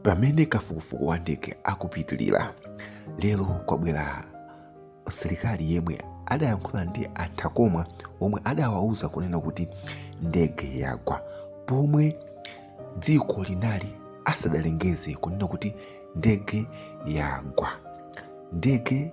pamene kafukufuku wa ndege akupitilira lero kwabwera msilikali yemwe adayankhula ndi a Thakomwa omwe adawauza kunena kuti ndege yagwa pomwe dziko linali asadalengeze kunena kuti ndege yagwa ndege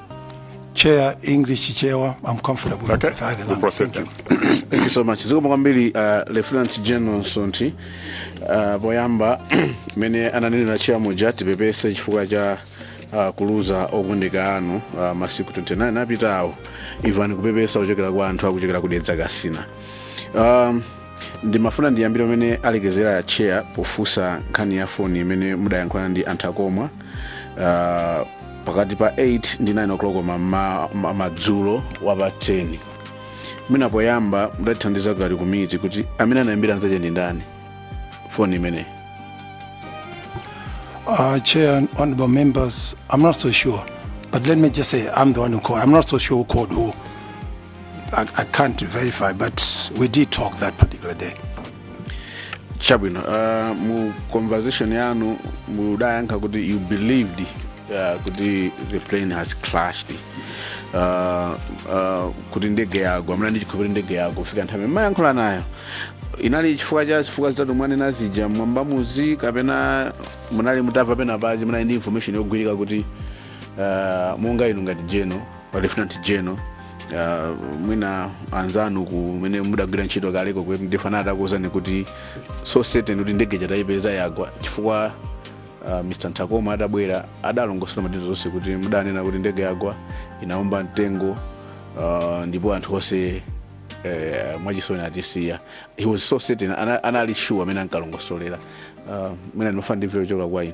Chair, English Chair, I'm comfortable okay. with either language. Thank you. Thank you so much. Zikomo kwambiri uh, Lieutenant General Nsonthi uh, poyamba mmene ananenera chair muja tipepese chifukwa cha uh, kuluza okondedwa anu uh, masiku 29 apitawo imvani kupepesa kuchokera kwa anthu akuchokera ku Dedza Kasina um, ndimafuna ndiyambire pamene alekezera a chair pofunsa nkhani ya foni imene mudayankhulana ndi a Thakomwa uh, pakati pa 8 ndi 9 o'clock ma- ma- ma- madzulo wa pa 10 mwina poyamba mutatithandiza ngati komiti kuti amene anayimbira mnzake ndi ndani foni imeneyi Uh, Chair and honorable members, I'm not so sure. But let me just say, I'm the one who called. I'm not so sure who called who. I, I can't verify, but we did talk that particular day. chabwino uh, mu conversation yanu mudayankha kuti you believed uh, kuti the plane has crashed uh, uh, kuti ndege yagwa munali ndi chikhulupiriro ndege yagwa kufika nthawi imene mumayankhula nawo inali chifukwa cha zifukwa zitatu mwanena zija mwa mbamuzi kapena munali mutamva penapake munali ndi information yogwirika kuti uh, monga inu ngati general lieutenant general uh, mwina anzanu kumene mudagwira ntchito kaleko kuti ndi amene adakuwuzani kuti so certain kuti ndege ija tayipeza yagwa chifukwa uh, mr Thakomwa atabwera adalongosola madera zonse kuti mudanena kuti ndege yagwa inaomba mtengo uh, ndipo anthu onse eh, mwachisoni atisiya he was so certain ana- anali sure mmene ankalongosolera uh, mwina ndimafuna ndimveko kuchoka kwa inu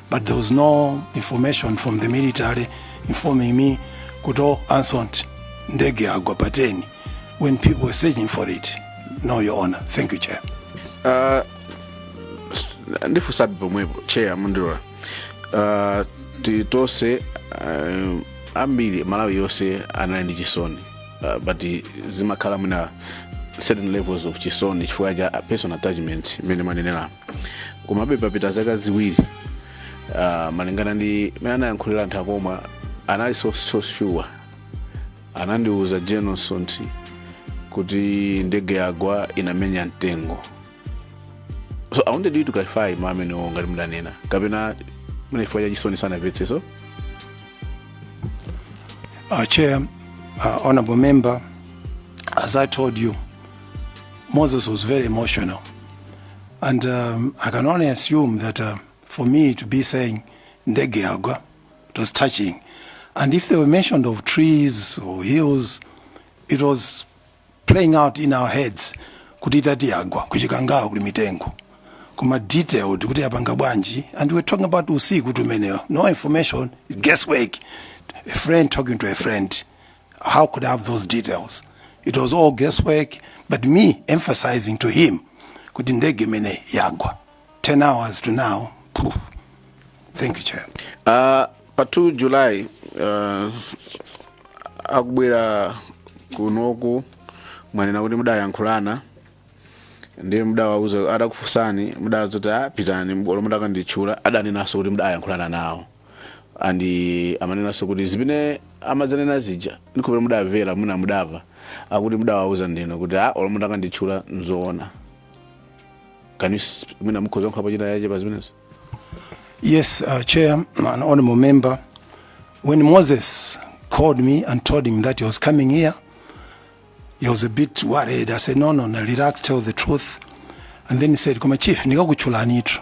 but there was no information from the military informing me kuti oh, a Nsonthi ndege yagwa pa 10 when people were searching for it no your honor thank you chair uh, ndifunsabe pomwepo chair mukandilola uh, tili tonse uh, ambiri Malawi yonse anali ndi chisoni uh, but zimakhala mwina certain levels of chisoni chifukwa cha personal attachments mmene mwanenera komabe papita zaka ziwiri uh, malingana ndi mene anayankhulira a nthakomwa anali so, so sure anandiuza general msonthi kuti ndege yagwa inamenya mtengo so i wanted you to clarify mawu amenewo ngati mudanena kapena mene chifukwa cha chisoni sanamvetse so Uh, Chair, uh, Honorable Member, as I told you, Moses was very emotional. And um, I can only assume that uh, for me to be saying ndege yagwa, it was touching. And if they were mentioned of trees or hills, it was playing out in our heads kuti itati yagwa kuchikangawa kuli mitengo kuma detailed kuti yapanga bwanji and we're talking about usiku tumeneyo no information guesswork a friend talking to a friend how could I have those details? It was all guesswork, but me emphasizing to him, kuti ndege imene yagwa. 10 hours to now. phew. Thank you, Chair. Uh, pa 2 july uh, akubwera kunoku mwanena kuti mudayankhulana ndiye mudawauza adakufunsani mudawauza kuti a pitani olo mutakanditchula adanenanso kuti mudayankhulana nawo and amanenanso kuti zimene amadzanena zija ndikhulupirira mudamvera mwina mudamva akuti mudawauza ndinu kuti a olo mutakanditchula nzoona can you sp- mwina mukhoza kuyankhapo china chake pa zimenezo Yes, uh, Chair, and honorable member. When Moses called me and told him that he was coming here, he was a bit worried. I said, no, no, no, relax, tell the truth. And then he said, Koma Chief, nikakutchulanitu.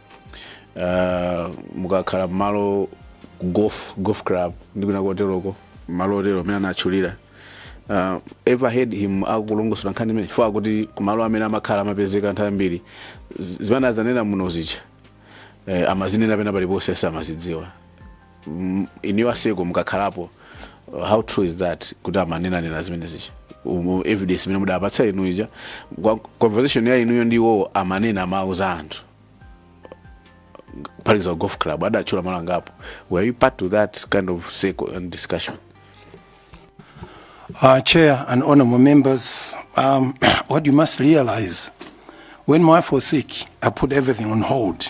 uh, mukakhala mmalo golf golf club ndi kwina koteroko mmalo otero amene anatchulira uh, ever heard him akulongosola nkhani imene chifukwa kuti kumalo amene amakhala amapezeka anthu ambiri z- zimene anadzanena muno zija eh, amazinena pena paliponse samazidziwa M- inuyo pa circle mukakhalapo uh, how true is that kuti amanenanena zimene zija umu evidence imene mudapatsa inu ija Kwa- conversation ya inuyo ndi iwowo amanena amauza anthu pali za golf club adatchula malo angapo were you part to that kind of circle and discussion Uh, Chair and honorable members, um, what you must realize, when my wife was sick, I put everything on hold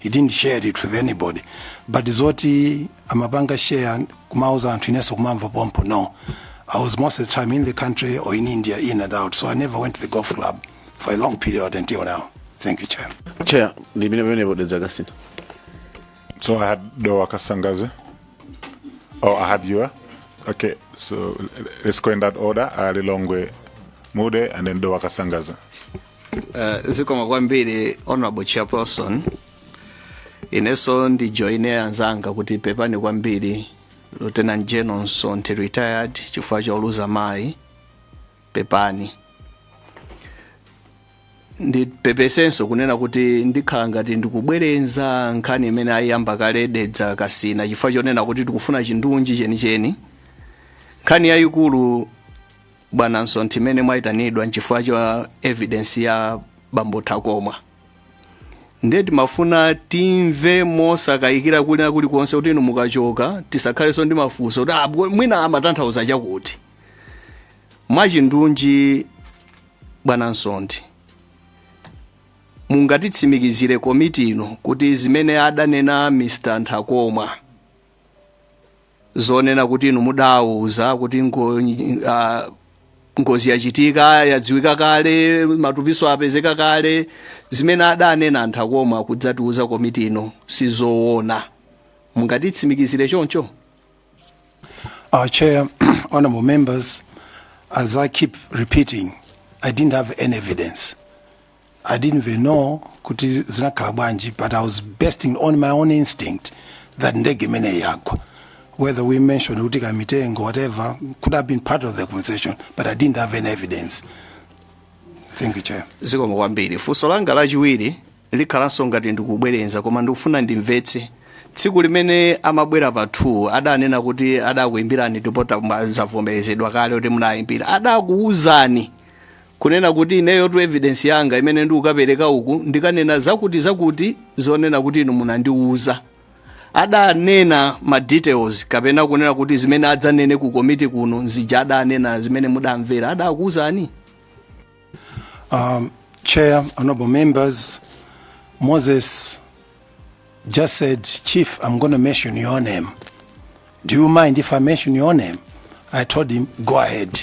He didn't share it with anybody but zoti amapanga share kumauza anthu inenso kumamva pompo no I was most of the time in the country or in India in and out so I never went to the golf club for a long period until now thank you chair chair ndi imene pamenepo dedza kasintha So I had Doa Kasangaze. Oh, I had Yua. Okay, so l- let's go in that order. I had Lilongwe Mude and then Doa Kasangaze. Uh, zikomo kwambiri honorable chairperson inenso ndijoine anzanga kuti pepani kwambiri lieutenant general msonthi retired chifukwa choluza mayi pepani ndipepesenso kunena kuti ndikhala ngati ndikubwerenza nkhani imene ayiyamba kale dedza kasina chifukwa chonena kuti tikufuna chindunji chenicheni nkhani yayikulu bwana msonthi imene mwayitanidwa nchifukwa cha evidence ya bambo nthakomwa ndiye timafuna timve mosakayikira kwina kulikonse kuti inu mukachoka tisakhalenso ndi mafunso kuti "Ah, bwe- mwina amatanthauza chakuti mwachindunji bwana msonthi mungatitsimikizire komiti ino kuti zimene adanena mr nthakomwa zonena kuti inu mudawauza kuti ngo, uh, ngozi yachitika yadziwika kale matupiso apezeka kale zimene adanena a Nthakomwa kudzatiuza komiti ino sizoona mungatitsimikizire choncho Chair, honorable members, as I keep repeating, I didn't have any evidence. I didn't even know kuti zinakhala bwanji but I was basing on my own instinct that ndege imeneyi yagwa whether we mentioned kuti kamitengo whatever could have been part of the conversation but I didn't have any evidence thank you chair zikomo kwambiri funso langa lachiwiri likhalanso ngati ndikubwerenza koma ndikufuna ndimvetse tsiku limene amabwera pa 2 adanena kuti adakuimbirani ndipo zavomerezedwa kale kuti munayimbira adakuwuzani Kunena kuti ineyotu evidence yanga imene ndikukapereka uku ndikanena zakuti zakuti zonena kuti inu munandiuza. Adanena ma details kapena kunena kuti zimene adzanene ku komiti kuno ndi zija adanena zimene mudamvera adakuuzani? Um, Chair, honorable members, Moses just said, Chief, I'm going to mention your name. Do you mind if I mention your name? I told him, go ahead.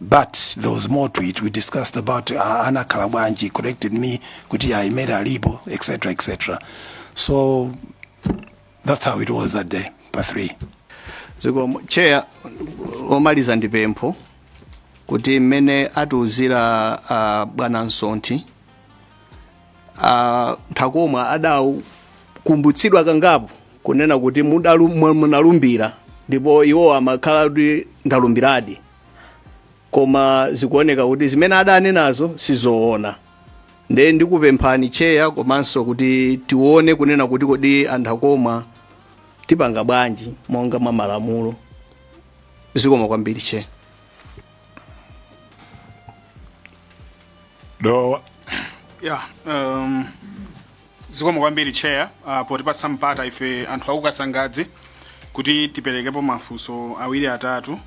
but there was more to it we discussed about uh, anakhala bwanji corrected me kuti ayi Madam alipo etc etc so that's how it was that day pa 3 zikomo chair omaliza ndi pempho kuti mmene atiuzira uh, bwana Msonthi uh, nthakomwa adakumbutsidwa kangapo kunena kuti mudalu- mwa- munalumbira ndipo iwo amakhala kuti ndalumbiradi koma zikuoneka kuti zimene adanenazo sizoona nde ndikupemphani cheya komanso kuti tione kunena kuti kodi a Nthakomwa tipanga bwanji monga mwa malamulo zikomo kwambiri cheya dowa ya um, zikomo kwambiri chair uh, potipatsa mpata ife anthu aku Kasangadzi kuti tiperekepo mafunso awiri atatu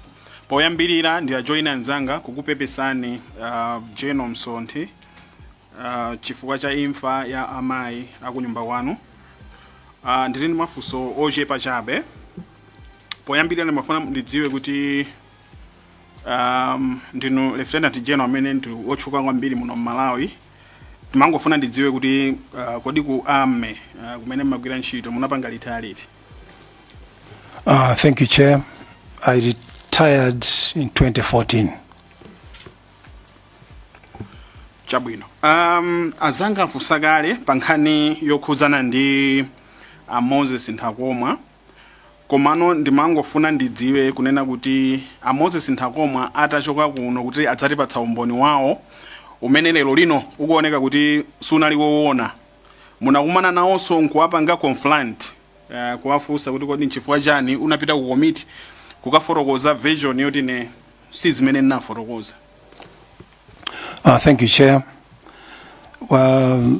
poyambirira ndiwajoine anzanga kukupepesani uh, General Msonthi uh, chifukwa cha imfa ya amayi akunyumba kwanu uh, ndili ndi mafunso ochepa chabe poyambirira ndimafuna ndidziwe kuti um, ndinu lieutenant general amene ndi otchuka kwambiri muno mmalawi ndimangofuna ndidziwe kuti uh, kodi ku army uh, kumene mmagwira ntchito munapanga retire liti Uh, thank you, Chair. I retired in 2014. chabwino um, azanga afunsa kale pa nkhani yokhudzana ndi a moses nthakomwa Komano ndimangofuna ndidziwe kunena kuti a Moses Nthakomwa atachoka kuno kuti adzatipatsa umboni wawo umene lero lino ukuoneka kuti sunali wowona. Munakumana nawonso nkuwapanga confront uh, kuwafunsa kuti kodi nchifukwa chani unapita ku komiti kukafotokoza version yoti ine si zimene ndinafotokoza. Uh, thank you, Chair. Well,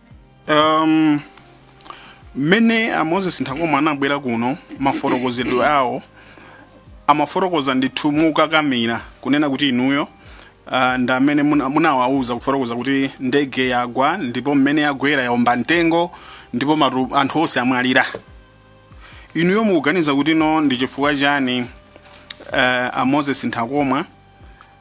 um, mmene a moses nthakomwa anabwera kuno mafotokozedwe awo amafotokoza ndithu mokakamira kunena kuti inuyo uh, ndi amene muna- munawauza kufotokoza kuti ndege yagwa ndipo mmene yagwera yaomba mtengo ndipo matu, anthu onse amwalira inuyo mukuganiza kuti no ndi chifukwa chani uh, a moses nthakomwa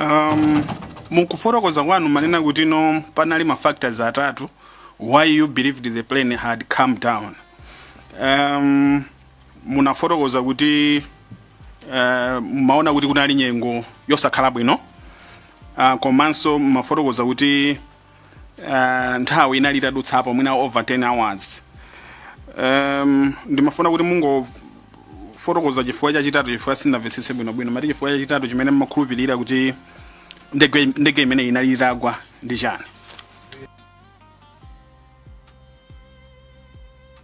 Um, mukufotokoza kwanu mwanena kuti no panali ma factors atatu why you believed the plane had come down um, munafotokoza kuti uh, mumaona kuti kunali nyengo yosakhala bwino uh, komanso mwafotokoza kuti uh, nthawi inali itadutsapo mwina over 10 hours um, ndimafuna kuti mungofotokoza chifukwa chachitatu chifukwa sindinamvetsetse bwinobwino mwati chifukwa chachitatu chimene mmakhulupirira kuti ndege ndege imeneyi inali itagwa ndi chani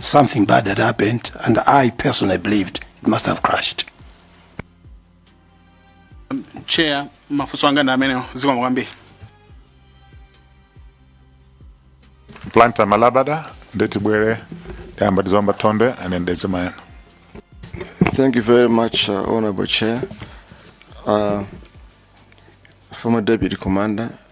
something bad had happened, and I personally believed it must have crashed. chair mafunso anga ndi amenewo zikomo kwambiri Planta Malabada, Ndeti Bwere, Damba Dizomba Tonde, and then Ndezi Mayana. Thank you very much, uh, Honorable Chair. Uh, former Deputy Commander,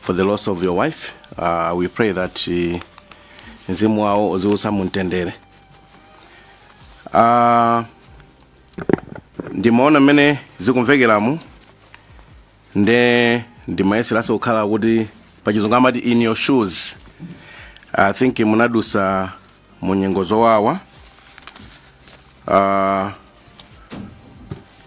for the loss of your wife uh, we pray that uh, mzimu wawo uziusa mumtendere uh, ndimaona mmene zikumvekeramu nde ndimayeseranso kukhala kuti pachizungu amati in your shoes i think munadutsa mu nyengo zowawa uh,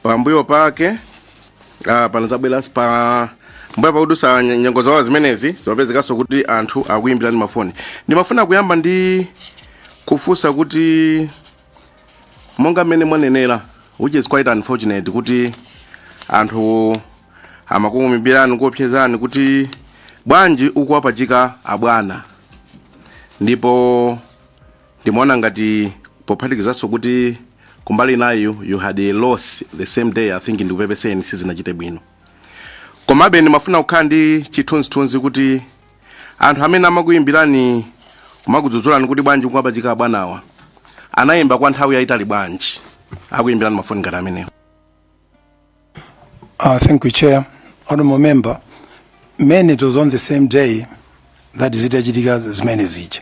pambuyo pake uh, panadzabwera pambuyo pakudutsa nye- nyengo zowawa zimenezi zimapezekanso kuti anthu akuyimbirani mafoni ndimafuna kuyamba ndi kufunsa kuti monga mmene mwanenera which is quite unfortunate kuti anthu amakuyimbirani kuopsezani kuti bwanji ukuwapachika abwana ndipo ndimaona ngati pophatikizanso kuti kumbali inayo you had a loss the same day i think ndikupepeseni sizinachite bwino komabe ndimafuna kukhala ndi chithunzithunzi kuti anthu amene amakuyimbirani kumakudzudzulani kuti bwanji ukuwapachika abwanawa anayimba kwa nthawi yayitali bwanji akuyimbirani mafoni ngati amenewo Uh, thank you, Chair. Honorable Member, mainly it was on the same day that zitachitika zimene zija.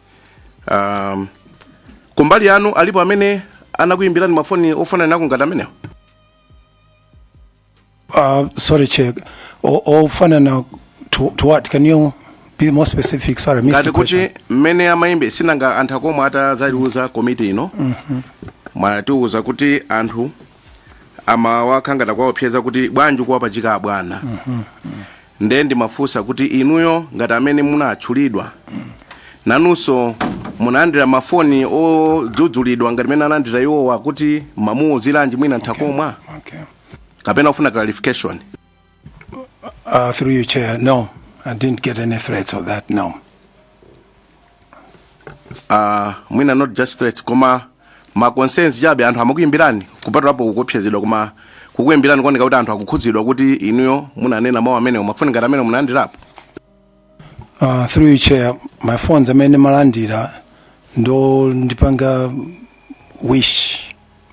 um, kumbali yanu alipo amene anakuyimbirani mafoni ofanana nawo ngati amenewo Uh, sorry, Chair. O- Ofanana to, to what? Can you be more specific? Sorry, I missed ngati the kuti question. mmene amayimbira sinanga a Nthakomwa atadzaiuza komiti ino mwatiuza kuti anthu amawauza akhala ngati akuwaopseza kuti bwanji ukuwapachika abwana nde ndimafunsa kuti inuyo ngati amene munatchulidwa nanunso munalandira mafoni odzudzulidwa ngati mene analandira iwowa kuti mwamuuziranji mwina nthakomwa okay kapena mufuna clarification Uh, through you, Chair, no, I didn't get any threats of that, no. uh, mwina not just threats koma ma concerns chabe anthu amakuyimbirani kupatulapo kuopsezedwa koma kukuyimbirani kuoneka kuti anthu akukhudzidwa kuti inuyo munanena mawu amenewo mafoni ngati amenewo munalandirapo Uh, through you chair mafoni amene nimalandira ndi ondipanga wish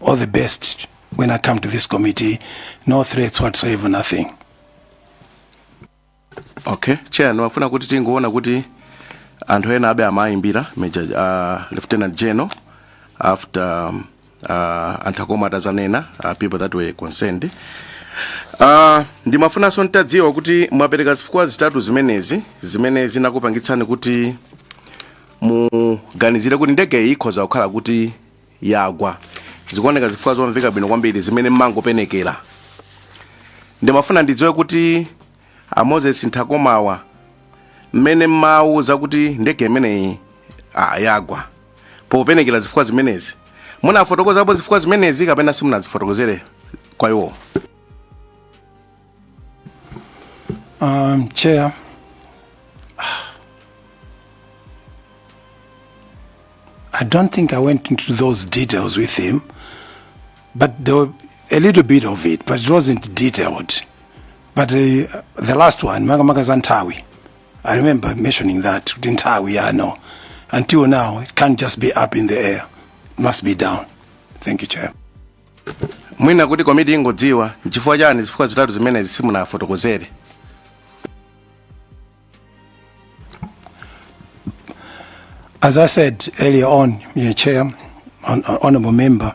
all the best when i come to this committee no threats whatsoever nothing okay chair ndimafuna kuti tingoona kuti anthu ena ake amayimbira major uh, lieutenant general after um, uh, a Nthakomwa atadzanena uh, people that were concerned uh, ndimafunanso nditadziwa kuti mwapereka zifukwa zitatu zimenezi zimene zinakupangitsani kuti muganizire kuti ndege iyi ikhoza kukhala kuti yagwa zikuoneka zifukwa zomveka bwino kwambiri zimene mumangopenekera ndimafuna ndidziwe kuti a moses Nthakomwa mmene mumawauza kuti ndege imeneyi ah, yagwa popenekera zifukwa zimenezi munafotokozapo zifukwa zimenezi kapena simunazifotokozere kwa iwo Um, chair. I don't think I went into those details with him, but there were a little bit of it, but it wasn't detailed. But uh, the last one, makamaka za nthawi, I remember mentioning that kuti nthawi yano until now it can't just be up in the air it must be down thank you chair mwina kuti komiti ingodziwa nchifukwa chani zifukwa zitatu zimenezi simunawafotokozere As I said earlier on, Mr. Chair, hon- hon- Honourable Member,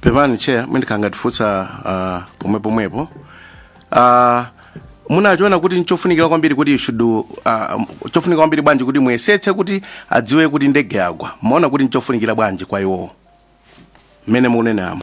pepani chair mwina ndikanangoti ndifunse uh, pomwe pomwepo uh, munachiona kuti nchofunikira kwambiri kuti shudu uh, chofunika kwambiri bwanji kuti muyesetse kuti adziwe kuti ndege yagwa mumaona kuti nchofunikira bwanji kwa iwowo mmene mukuneneramo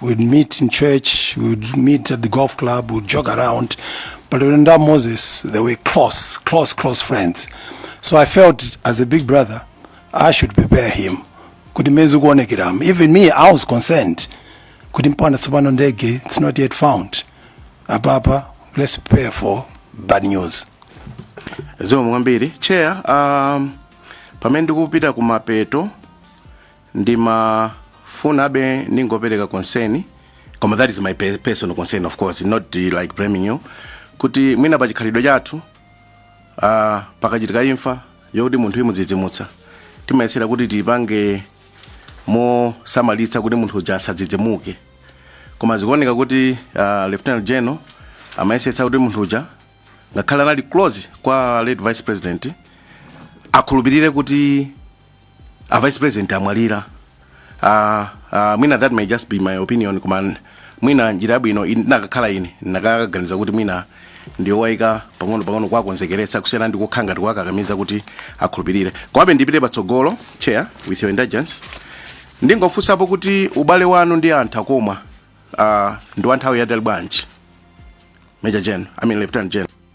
we'd meet in church we'd meet at the golf club we'd jog around but when that moses they were close close close friends so i felt as a big brother i should prepare him kuti mezi kuonekeramo even me i was concerned kuti mpanda tsopano ndege it's not yet found apapa let's prepare for bad news zomwe kwambiri cheya um, pamene ndikupita kumapeto ndimafunabe ndingopereka concern koma that is my pe- personal concern of course not uh, like blaming you kuti mwina pa chikhalidwe chathu uh, pakachitika imfa yokuti munthu imudzidzimutsa timayesera kuti tipange mosamalitsa kuti munthu uja asadzidzimuke koma zikuoneka kuti uh, lieutenant general amayesetsa kuti munthu uja ngakhale anali close kwa late vice president akhulupirire kuti a vice president amwalira uh, uh, mwina that may just be my opinion koma mwina njira yabwino in- nakakhala ine ndinakaganiza kuti mwina ndiyowaika pang'ono pang'ono kuwakonzekeretsa kusiyana ndi kukhala ngati kuwakakamiza kuti akhulupirire komabe ndipite patsogolo chair with your indulgence ndingofunsapo kuti ubale wanu ndi a Nthakomwa uh, ndi wa nthawi yaitali bwanji major general i mean lieutenant general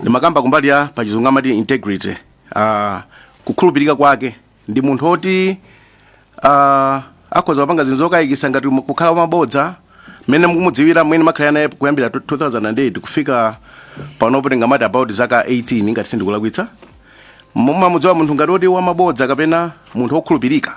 ndimakamba kumbali ya pachizungu amati integrity uh, kukhulupirika kwake ndi munthu oti uh, akhoza kupanga zinthu zokayikisa ngati mu- kukhala wamabodza mmene mukumudziwira mmene mwakhala naye kuyambira 2008 kufika panopo tingamati about zaka 18 ngati sindikulakwitsa mumamudziwa ngati oti wamabodza kapena munthu wokhulupirika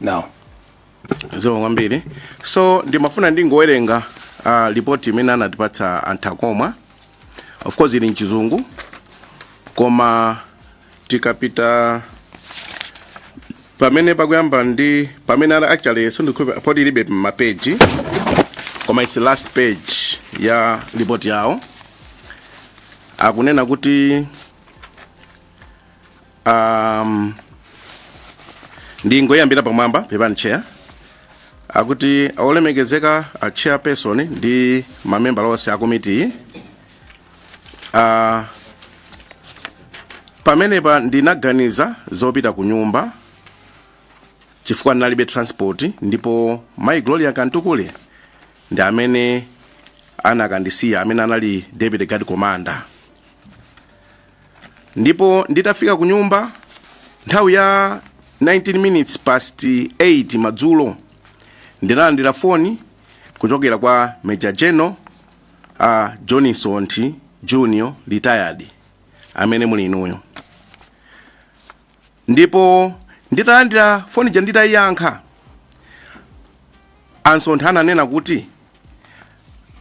now zikomo kwambiri so ndimafuna ndingowerenga uh, lipoti imene anatipatsa a Nthakomwa of course ili mchizungu koma tikapita pamene pakuyamba ndi pamene ana actually sindikudziwa poti ilibe mapeji koma its last page ya lipoti yawo akunena kuti um, ndingoyambira pamwamba pepani chair akuti olemekezeka a chairperson ndi mamembala onse a komitiyi uh, pamenepa ndinaganiza zopita ku nyumba chifukwa ndinalibe transport ndipo mai gloria Mtukule ndi amene anakandisiya amene anali deputy guard commander ndipo nditafika ku nyumba nthawi ya 19 minutes past 8 madzulo ndinalandira foni kuchokera kwa major general uh, john msonthi junior retired amene muli inuyo ndipo nditalandira foni ija nditayiyankha a Msonthi ananena kuti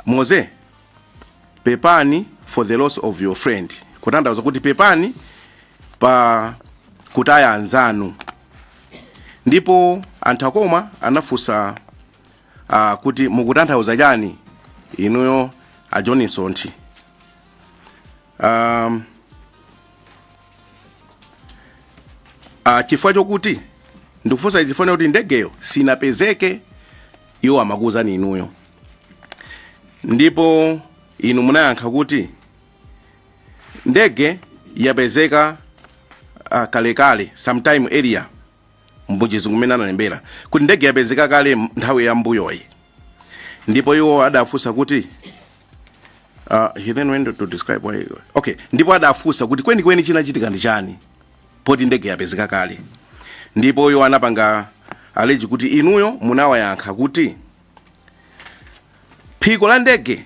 moze pepani for the loss of your friend kutanthauza kuti pepani pa kutaya anzanu ndipo a Nthakomwa anafunsa uh, kuti mukutanthauza chani inuyo a john msonthi um, uh, chifukwa chokuti ndikufunsa izi ifenayo kuti ndegeyo sinapezeke iwo amakuwuzani inuyo ndipo inu munayankha kuti ndege yapezeka uh, kalekale sometime earlier mbuchizi kumene analembera kuti ndege yapezeka kale nthawi ya mbuyoyi ndipo iwo adafunsa kuti Uh, he then went to describe why okay ndipo adafunsa kuti kwenikweni chinachitika ndi chani poti ndege yapezeka kale ndipo iwo anapanga allege kuti inuyo munawayankha kuti phiko la ndege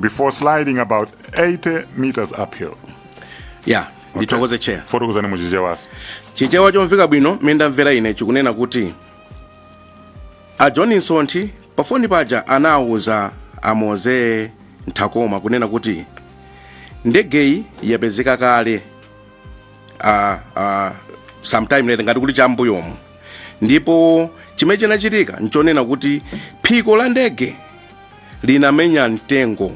before sliding about 80 meters uphill. yah ndithokoze chair Fotokozani mu Chichewanso. chichewa chomveka bwino m'mene ndamvera ine chikunena kuti a john Msonthi pafoni paja anawuza a Moses Nthakomwa kunena kuti ndegeyi yapezeka kale uh, uh, sometime late ngati kuti cha mbuyomu ndipo chimene chinachitika nchonena kuti phiko la ndege linamenya mtengo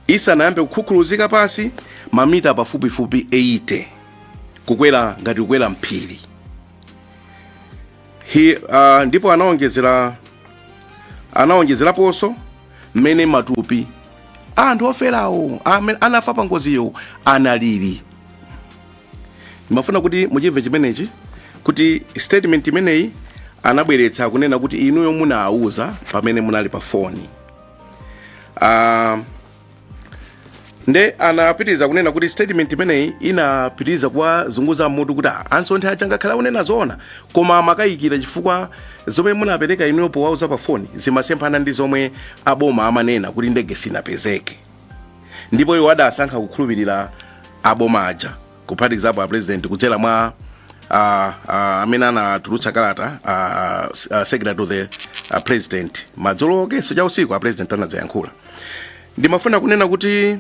isanayambe kukhukhuluzika pansi mamita pafupifupi 80 kukwera ngati kukwera m'phiri Hi, uh, ndipo anaonjezera anaonjezeraponso mmene matupi a anthu oferawo amene anafa pa ngoziyo analili ndimafuna kuti muchimve chimenechi kuti statement imeneyi anabweretsa kunena kuti inuyo munawuza pamene munali pa foni uh, nde anapitiriza kunena kuti statement imeneyi inapitiriza kuwazunguza m'mutu kuti "Ah, a Msonthi aja ngakhale akunena zoona koma amakayikira chifukwa zomwe munapereka inuyo powauza pa foni zimasemphana ndi zomwe aboma amanena kuti ndege sinapezeke ndipo iwo adasankha kukhulupirira aboma aja kuphatikizapo apresident kudzera mwa ah, ah, amene anatulutsa kalata ah, s- ah, secretary to the ah, president madzulo komanso cha usiku apresident anadzayankhula ndimafuna kunena kuti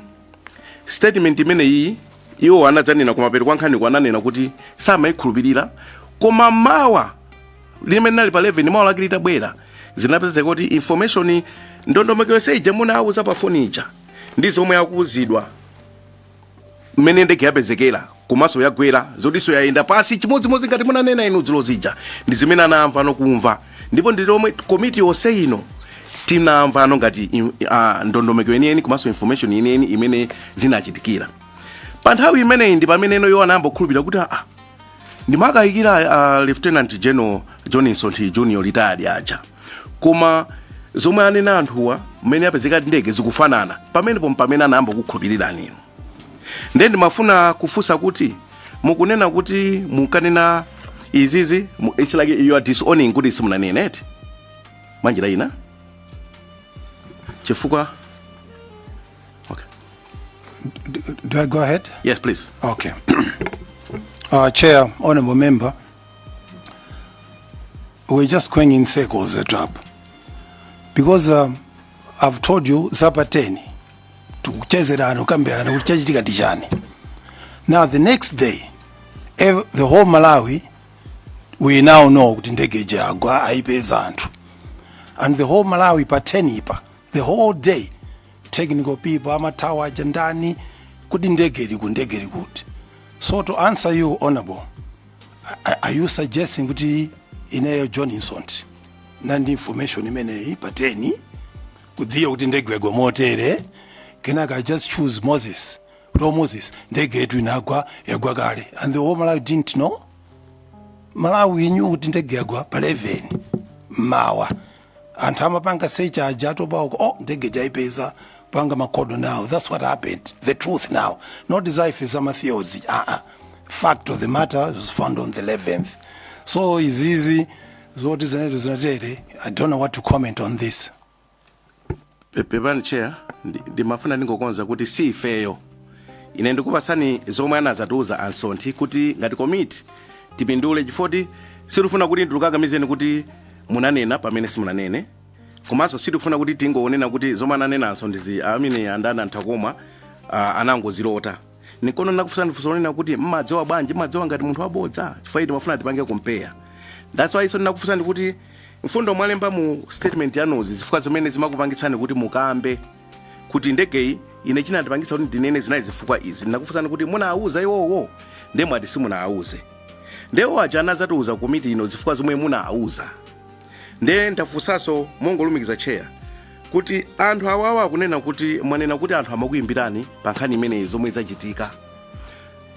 statement imeneyi iwo anadzanena kumapeto kwa nkhaniku ananena kuti samayikhulupirira koma mawa limene linali pa 11 mawa lake litabwera zinapezeka kuti information ndondomeko yonse ija munawauza pa foni ija ndi zomwe akuuzidwa mmene ndege yapezekera komanso yagwera zotinso yayenda pansi chimodzimodzi ngati munanena inu dzulo zija ndi zimene anamva nokumva ndipo ndi zomwe komiti yonse ino tinamvano ngati im- ah, ndondomeko yeniyeni komanso information yeniyeni imene zinachitikira pa nthawi imeneyi ndi pamene iwowo anayamba kukhulupirira kuti aa ndimakayikira uh, lieutenant general john msonthi junior retired aja koma zomwe anena anthuwa mmene apezeka ndege zikufanana pamenepo mpamene anayamba kukhulupirirani inu nde ndimafuna kufunsa kuti mukunena kuti munkanena izizi mu- it's like you are disowning kuti simunanena eti mwanjira ina chifukwa Okay. Do, do I go ahead? Yes, please. Okay. uh, Chair, Honorable Member, we're just going in circles at up. Because um, I've told you zapa 10 tikuchezerana kukambirana kuti chachitika ndi chani. Now the next day ev- the whole Malawi we now know kuti ndege ija agwa aipeza anthu and the whole Malawi pa 10 ipa the whole day technical people amathawa aja ndani kuti ndege liku ndege likuti so to answer you honorable a- are you suggesting kuti ineyo john msonthi nandi information imeneyi pa 10 kudziwa kuti ndege yagwa motere kenaka i just choose moses lo moses ndege yetu inagwa yagwa kale and the whole malawi didn't know malawi knew kuti ndege yagwa pa 11 mawa anthu amapanga search aja atopa uko oh ndege jaipeza panga makodo now that's what happened the truth now not desire zama theories ah ah fact of the matter was found on the 11th so izizi zoti zinetu zinatere i don't know what to comment on this Pe- pepani chair ndi- ndimafuna ndingokonza kuti si ifeyo ine ndikupatsani zomwe anazatiuza a msonthi kuti ngati komiti tipindule chifoti sitifuna kuti ndikukakamizeni kuti munanena pamene simunanene komanso sitifuna kuti tingonena kuti zomwe ananena a msonthizi amene andani a nthakomwa uh, anangozilota nkona ndinakufunsani funso lonena kuti mmadziwa bwanji mmadziwa ngati munthu wabodza chifukwa choti timafuna tipange compare that's why so ndinakufunsani kuti mfundo mwalemba mu statement yanuzi zifukwa zimene zimakupangitsani kuti mukambe kuti ndegeyi ine chinandipangitsa kuti ndinene zinali zifukwa izi ndinakufunsani kuti munawuza iwowo nde mwati simunawauze nde iwo aja anazatiuza kukomiti ino zifukwa zomwe munawauza ndiye ndafunsanso mongolumikiza tcheya kuti anthu awawa akunena kuti mwanena kuti anthu amakuyimbirani pa nkhani imeneyi zomwe zachitika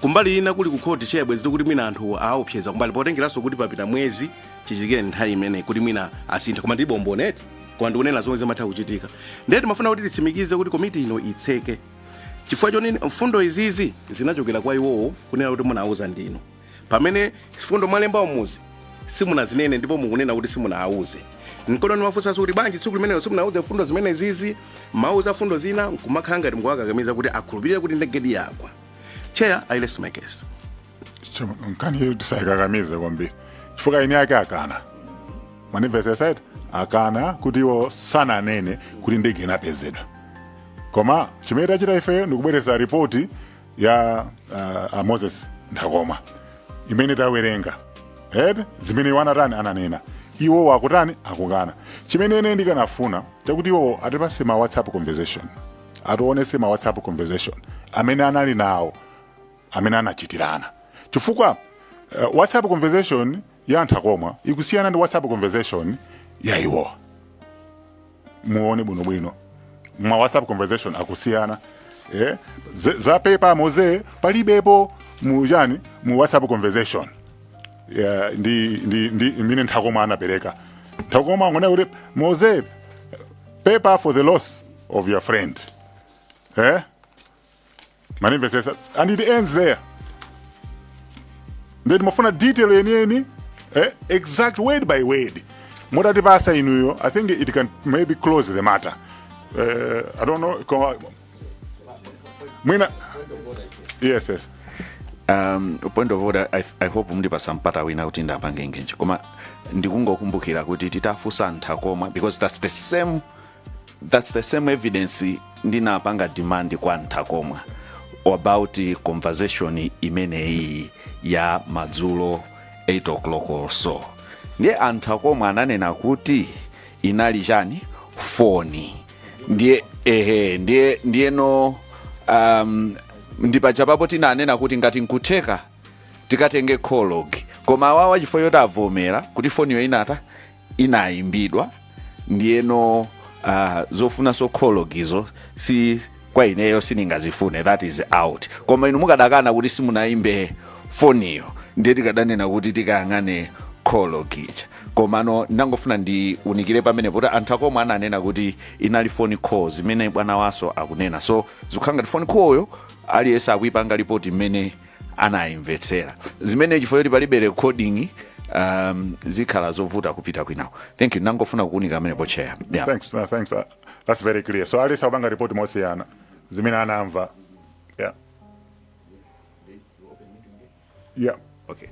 kumbali ina kuli kukhoti tcheya bwezi tikuti mwina anthu awaopseza kumbali potengeranso kuti papita mwezi chichitikire nthawi imeneyi kuti mwina asintha koma ndilibe umboni eti koma ndikunena zomwe zimatha kuchitika ndiye timafuna kuti titsimikize kuti komiti ino itseke chifukwa choti mfundo izizi zinachokera kwa iwowo kunena kuti munawauza ndinu pamene mfundo mwalemba umuzi simunazinene ndipo mukunena kuti simunawauze nkona ndimafunsanso kuti bwanji tsiku limenelo simunawauze mfundo zimene zizi mmawauza mfundo zina nkumakhala ngati mukuwakakamiza kuti akhulupirire kuti ndegedi yagwa tcheya i rest my case nkhaniyo tisayikakamize kwambiri chifukwa eni ake akana manifested akana kuti iwo sananene kuti ndege inapezedwa koma chimene tachita ifeyo ndikubweresa ripoti ya uh, a moses nthakomwa imene tawerenga and zimene iwo anatani ananena iwowo akutani akukana chimene ine ndikanafuna chakuti iwowo atipase ma whatsapp conversation atiwonese ma whatsapp conversation amene anali nawo amene anachitirana chifukwa uh, whatsapp conversation ya nthakomwa ikusiyana ndi whatsapp conversation ya iwowa muone bwinobwino ma whatsapp conversation akusiyana eh? za pepa Mose palibepo mu chani mu whatsapp conversation yeah, ndi, ndi, ndi mmene Nthakomwa anapereka Nthakomwa angonena kuti Mose pepa for the loss of your friend eh? mwandimvetsetsa and it ends there then mafuna detail yeniyeni eh, exact word by word mutatipasa inuyo i think it can maybe close the matter uh, i don't know koma- mwina yes yes um, point of order I, i hope mndipasa mpata wina kuti ndapange engage koma ndikungokumbukira kuti titafunsa a Nthakomwa because that's the same that's the same evidence ndinapanga demand kwa a Nthakomwa about conversation imeneyi ya madzulo 8 o'clock or so ndiye a Nthakomwa ananena kuti inali chani foni ndiye ehe ndiye ndiyeno um, ndi pajapapo tinanena kuti ngati nkutheka tikatenge call log koma awawa chifukwa choti avomera kuti foniyo inata inayimbidwa ndiyeno uh, zofunaso call logizo si kwa ineyo sindingazifune that is out koma inu mukadakana kuti simunayimbe foniyo ndiye tikadanena kuti tikayang'ane call log ija komano ndangofuna ndiunikire pamenepo kuti a Nthakomwa ananena kuti inali phone call zimene bwanawaso akunena so zikukhala ngati phone call yo aliyense akuyipanga lipoti mmene anayimvetsera zimene chifukwa choti palibe recording um, zikhala zovuta kupita kwinako thank you nangofuna kuunika pamenepo chair yeah. thanks no, thanks uh, that's very clear so aliyense akupanga report mosiyana zimene anamva yeah yeah okay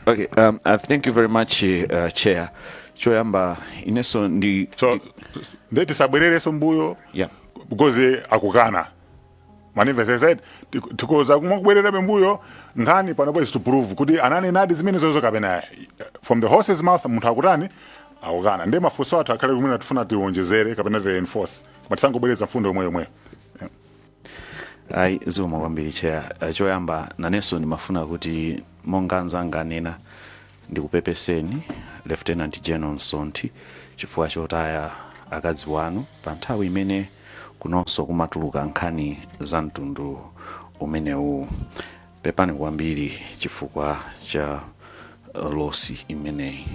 okay um, uh, thank you very much uh, chair choyamba ineso ndi so nde tisabwerereso mbuyo yeah because akukana mundimvesese tik- tikhoza kumabwererabe mbuyo nkhani panopa is to prove kuti ananenadi zimenezozo kapena eh, from the horse's mouth munthu akutani akukana nde mafunso athu akhale kumene tifuna tiwonjezere kapena tireinforce koma tisangobwereza mfundo yomweyo yomweyo ayi zikomo kwambiri chair Eh, choyamba nanenso ndimafuna kuti monga anzanga anena Ndikupepeseni Lieutenant General Msonthi chifukwa chotaya akazi wanu pa nthawi imene kunonso kumatuluka nkhani za mtundu umenewu. Pepani kwambiri chifukwa cha losi imeneyi.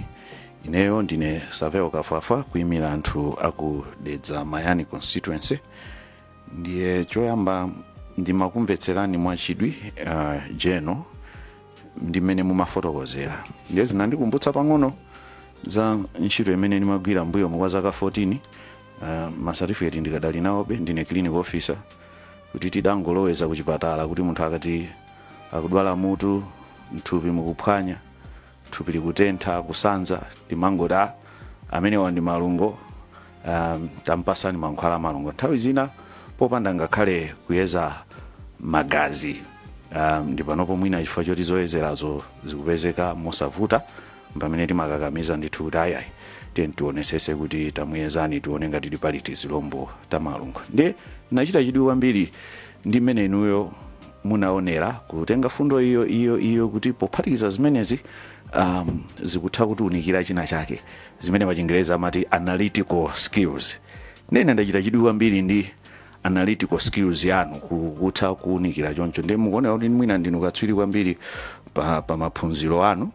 Ineyo ndine Savel Kafwafwa kuimira anthu aku Dedza Mayani constituency. Ndiye choyamba ndimakumvetserani mwachidwi uh, General ndi mmene mumafotokozera ndiye zinandikumbutsa pang'ono za ntchito imene ndimagwira mbuyomo kwa zaka 14 uh, masatifiketi ndikadali nawobe ndine clinical officer kuti tidangoloweza kuchipatala kuti munthu akati akudwala mutu mthupi mukuphwanya thupi likutentha kusanza timangoti "Ah, amenewa ndi malungo um, tampasani mankhwala amalungo nthawi zina popanda ngakhale kuyeza magazi um, ndi panopo mwina chifukwa choti zoyezerazo zikupezeka mosavuta pamene timakakamiza ndithu kuti ayayi tiye tionesese kuti tamuyezani tione ngati tili pali tizilombo tamalungo ndiye nachita chidwi kwambiri ndi mmene inuyo munaonera kutenga fundo iyo iyo iyo kuti pophatikiza zimenezi um, zikutha kutiunikira china chake zimene pachingerezi amati analytical skills ndiye ndachita chidwi kwambiri ndi analytical skills yanu ku- kutha kuunikira choncho ndiye mukuoneka kuti mwina ndinu katswiri kwambiri pa, pa maphunziro anu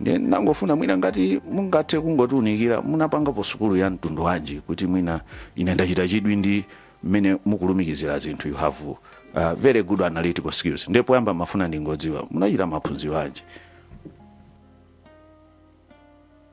ndiye ndangofuna mwina ngati mungathe kungotiunikira munapangapo sukulu ya mtundu wanji kuti mwina ine ndachita chidwi ndi mmene mukulumikizira zinthu you have uh, very good analytical skills ndiye poyamba mafuna ndingodziwa munachita maphunziro anji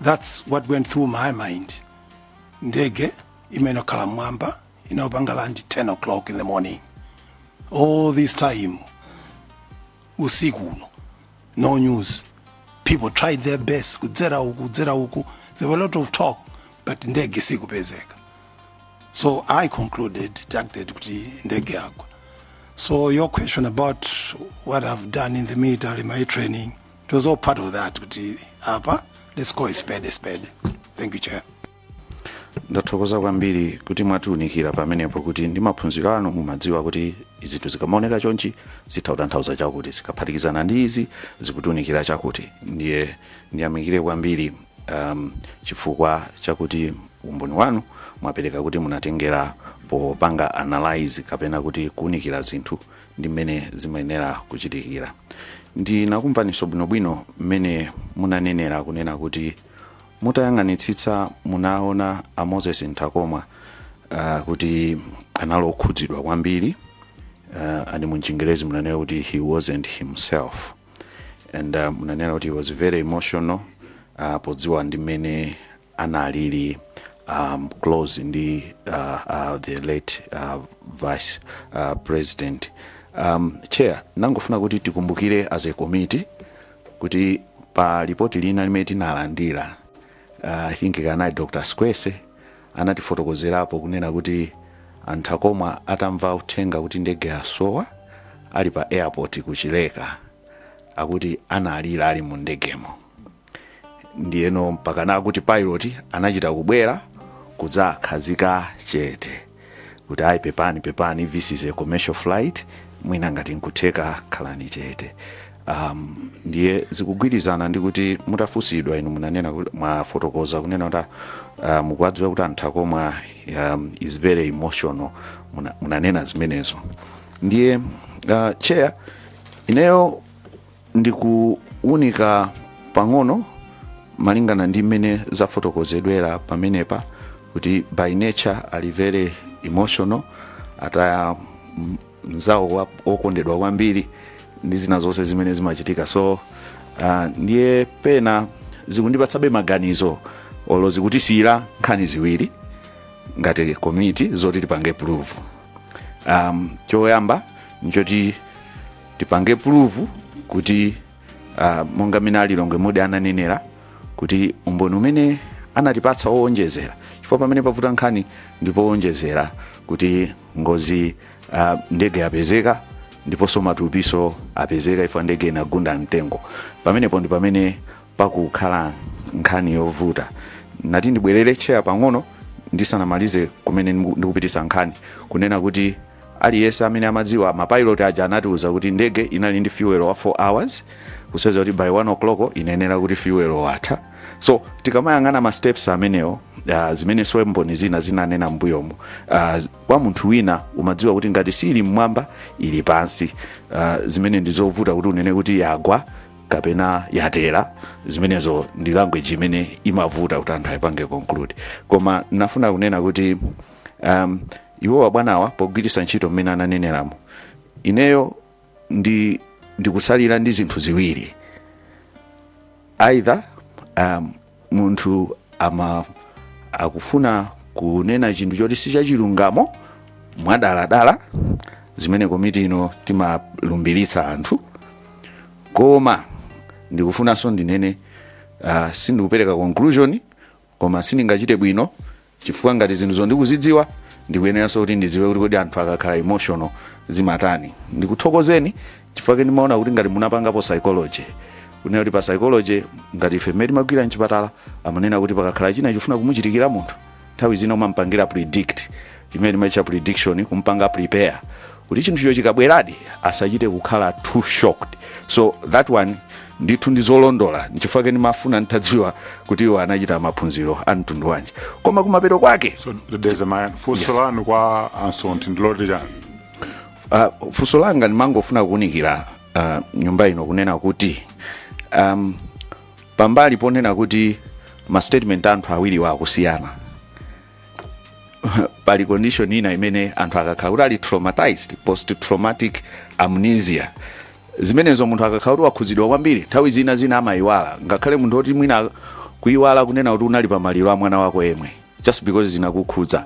That's what went through my mind. Ndege imene khala mwamba inayopanga land 10 o'clock in the morning. All this time usiku uno no news. People tried their best kudzera uku kudzera uku. There were a lot of talk but ndege sikupezeka. So I concluded deducted kuti ndege yagwa. So your question about what I've done in the military, my training, to zo part of that kuti apa let's call a spade a spade thank you chair ndathokoza kwambiri kuti mwatiunikira pamenepo kuti ndi maphunziro anu mumadziwa kuti zinthu zikamaoneka chonchi zitha kutanthauza chakuti zikaphatikizana ndi izi zikutiunikira chakuti ndiye ndiyamikire kwambiri um, chifukwa chakuti umboni wanu mwapereka kuti munatengera popanga analyze kapena kuti kuunikira zinthu ndi mmene zimayenera kuchitikira ndinakumvaninso bwinobwino mmene munanenera kunena kuti mutayang'anitsitsa munaona a moses nthakomwa uh, kuti anali okhudzidwa kwambiri uh, and muchingerezi munanena kuti he wasn't himself and uh, munanena kuti he was very emotional uh, podziwa ndi mmene analili um, close ndi uh, uh, the late uh, vice uh, president um, chair nangofuna kuti tikumbukire as a committee kuti pa lipoti lina limene tinalandira uh, i think anali dr sikwese anatifotokozerapo kunena kuti a nthakomwa atamva uthenga kuti ndege yasowa ali pa airport kuchileka akuti analira ali mu ndegemo ndiyeno mpakana akuti pilot anachita kubwera kudzakhazika chete kuti ayi pepani pepani this is a commercial flight mwina ngati nkutheka khalani chete um, ndiye zikugwirizana ndi kuti mutafunsidwa inu munanena kuti- mwafotokoza kunena kuti uh, mukuwadziwa kuti anthu akakhala um, is very emotional Muna- munanena zimenezo ndiye uh, chair ineyo ndi kuwunika pang'ono malingana ndi mmene zafotokozedwera pamenepa kuti by nature ali very emotional ataya m- mnzawo wa- wokondedwa kwambiri ndi zina zonse zimene zimachitika so uh, ndiye pena zikundipatsabe maganizo olo zikutisiyira nkhani ziwiri ngati komiti zoti tipange probe um, choyamba nchoti tipange probe kuti uh, monga mina alilongwe mudi ananenera kuti umboni umene anatipatsa owonjezera chifukwa pamene pavuta nkhani ndi powonjezera kuti ngozi uh, ndege yapezeka ndiponso matupinso apezeka ifo ndege inagunda mtengo pamenepo ndi pamene pakukhala nkhani yovuta nati ndibwerere chair pang'ono ndisanamalize kumene ndiku- ndikupitisa nkhani kunena kuti Aliyese amene amadziwa ma pilot aja anatiuza kuti ndege inali ndi fuel wa 4 hours kusonyeza kuti by 1 o'clock inayenera kuti fuel watha so tikamayang'ana ma steps amenewo uh, zimenenso mboni zina zinanena mbuyomo uh, kwa munthu wina umadziwa kuti ngati siili mmwamba ili pansi uh, zimene ndi zovuta kuti unene kuti yagwa kapena yatera zimenezo ndi language imene imavuta kuti anthu ayipange conclude koma nafuna kunena kuti um, iwowa bwanawa pogwiritsa ntchito mmene ananeneramo ineyo ndi ndikutsalira ndi zinthu ziwiri either um, munthu ama akufuna kunena chinthu choti si chachilungamo mwadaladala zimene komiti ino timalumbiritsa anthu koma ndikufunanso ndinene uh, sindikupereka conclusion koma sindingachite bwino chifukwa ngati zinthuzo ndikuzidziwa ndikuyeneranso kuti ndidziwe kuti kodi anthu akakhala emotional zimatani ndikuthokozeni chifukwa chake ndimaona kuti ngati munapangapo psychology kunena kuti pa psychology ngati ife mmene timagwira mchipatala amanena kuti pakakhala china chikufuna kumuchitikira munthu nthawi zina umampangira predict imene timaitcha prediction kumpanga prepare kuti chinthucho chikabweradi asachite kukhala too shocked so that one ndithu ndizolondola nchifukwa chake ndimafuna nditadziwa kuti iwo anachita maphunziro a mtundu wanji koma kumapeto kwake so Dedza Mayani funso lanu kwa ansonti ndiloti chani uh, funso langa ndimangofuna kuunikira uh, nyumba ino kunena kuti um, pambali ponena kuti ma statement anthu awiriwa akusiyana pali condition ina imene anthu akakhala kuti ali traumatized post traumatic amnesia zimenezo munthu akakhala kuti wakhudzidwa kwambiri nthawi zina zina amayiwala ngakhale munthu oti mwina kuyiwala kunena kuti unali pa maliro a mwana wako yemwe just because zinakukhudza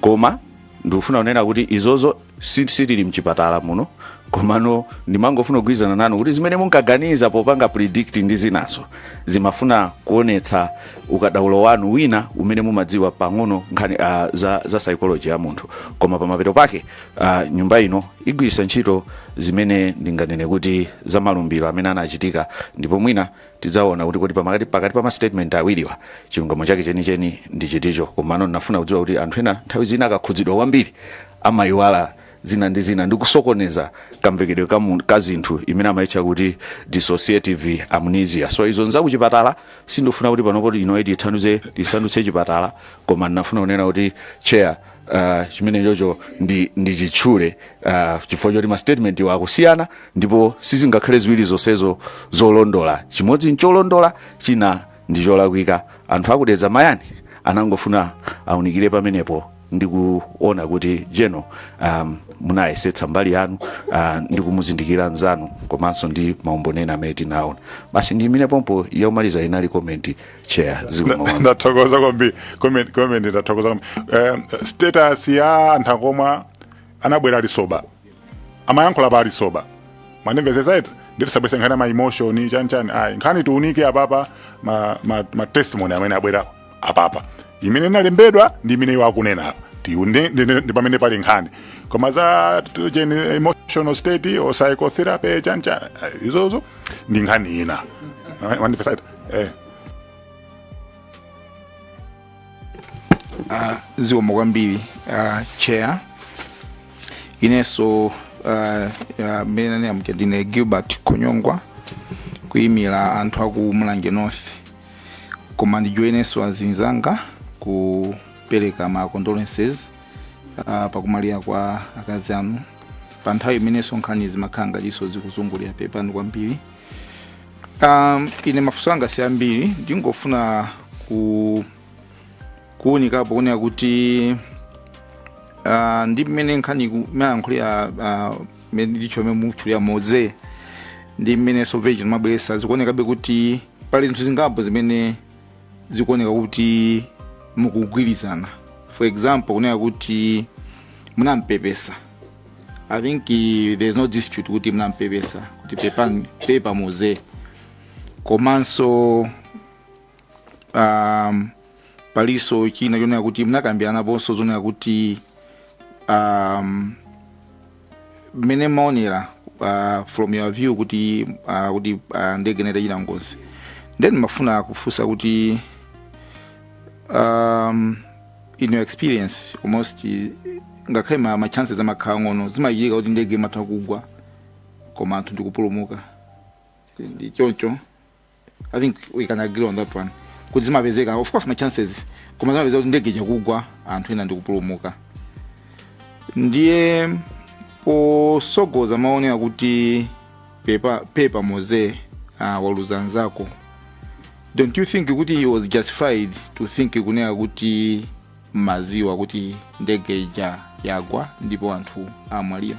koma ndikufuna kunena kuti izozo si- sitili mchipatala muno komano ndimangofuna kugwirizana nanu kuti zimene munkaganiza popanga predict ndi zinazo ndimafuna kuonetsa ukadaulo wanu wina umene mumadziwa pang'ono nkhani uh, za, za psychology ya munthu koma pamapeto pake uh, nyumba ino igwiritsa ntchito zimene ndinganene kuti za malumbiro amene anachitika ndipo mwina Tidzaona kuti kodi pakati pakati pa ma statement awiriwa chilungamo chake chenicheni ndi chiticho. Komano ndinafuna kudziwa kuti anthu ena nthawi zina akakhudzidwa kwambiri amayiwala zina ndi zina ndi kusokoneza kamvekedwe ka mu- ka zinthu imene amayitcha kuti dissociative amnesia. So izo nzakuchipatala sindifuna kuti panopo ino itithandize tisandutse chipatala koma ndinafuna kunena kuti chair uh, chimenechocho ndi, ndi chitchule uh, chifukwa choti mastatement iwo akusiyana ndipo sizingakhale ziwiri zonsezo zolondola chimodzi ncholondola china ndi cholakwika aku Dedza Mayani anangofuna aunikire pamenepo ndi kuona kuti jeno um, munayesetsa mbali yanu uh, ndi kumuzindikira mnzanu komanso ndi maumboni ena amene tinaona basi ndi imene pompo yomaliza inali komenti chair zikomo ndathokoza kwambiri comment comment ndathokoza kwambiri eh, status ya anthu omwe anabwera alisoba amayankhula pa alisoba mwandimvetsetsa eti ndiye tisabweretse nkhani ma emotion chani chani ayi nkhani tiunike apapa ma, ma, ma testimony amene abwera apapa imene inalembedwa ndi imene iwo akunena apa tione ndi- ndi- ndi pamene pali nkhani koma za t- cheni emotional state or psychotherapy chani chani ayi, izozo ndi nkhani ina mwandimvetsa eti eh. uh, zikomo kwambiri uh, chair inenso mmene uh, uh, nanenera ndine gilbert khonyongwa kuyimira anthu aku mulanje north koma ndijoine inenso azinzanga kupereka ma condolences uh, pakumwalira kwa akazi anu pa nthawi imenenso nkhani zimakhala ngatinso zikuzungulira pepani kwambiri Um, ine mafunso anga si ambiri ndingofuna ku kuunikapo kunena kuti uh, ndi mmene nkhani iku- mmayankhulira uh, mmene ndicho mmene mutchulira Moses ndi mmene a Savenjani amabweresa zikuonekabe kuti pali zinthu zingapo zimene zikuoneka kuti mukugwirizana for example kunena kuti munampepesa i think eh, there is no dispute kuti munampepesa kuti pepani pepa Moses komanso um, palinso china chonena kuti munakambiranaponso zonena kuti um, mmene mmaonera uh, from your view kuti uh, kuti uh, ndege inachita ngozi then ndimafuna kufunsa kuti um, in your experience almost ngakhale ma, ma chances amakhala ang'ono zimachitika kuti ndege imatha kugwa koma anthu ndikupulumuka ndi choncho i think we can agree on that one kuti zimapezeka of course ma chances koma zimapezeka kuti ndege ija kugwa anthu ena ndikupulumuka ndiye posogoza mawu onena kuti pepa, pepa Moses uh, waluza nzako don't you think kuti he was justified to think kunena kuti mumaziwa kuti ndege ija yagwa ndipo anthu amwalira